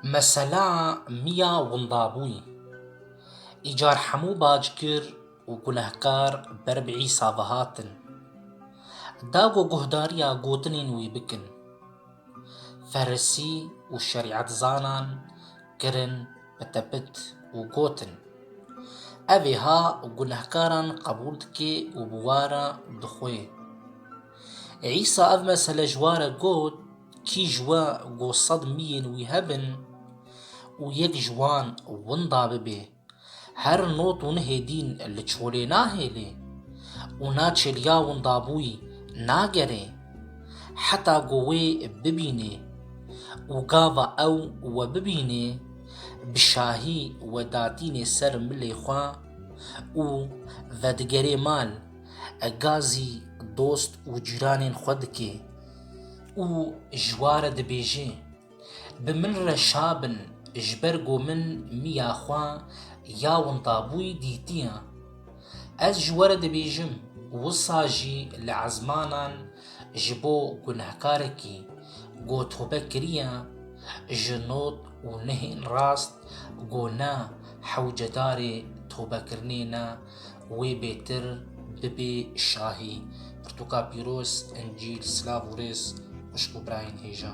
Mesela miya windabûyî. Îcar hemû bacgir û gunehkar ber bi Îsa ve hatin. Dago guhdariya gotinên wî bikin. Ferisî û şerîetzanan kirin bi tepit û gotin, Ev ê ha gunehkaran qebûl dike û bi we re dixwe. Îsa ev mesele ji wa re got, Kî ji we ku sed miyên wî hebin û yek ji wan winda bibe, her not û nihê dîn li çolê nahêlê û na çêliya windabûyî nagerê heta ku wê bibînê û gava ew we bibînê, bi şahî we datînê ser milê xwe û vedigerê mal. gazî dost û cîranên xwe dike û ji wa re dibêje, Bi min re şabin ji ber ku min miya xwe ya wintabûyî dîtiye. Ez ji we re dibêjim, wisa jî li ezmanan ji bo gunehkarekî ku tobe kiriye ji not û nihên rast ku ne hewcedarê tobekirinê ne Wê bêtir bibê şahî. Pirtûka pîroz, encîl, silav û rêz xwişk û birayên hêja.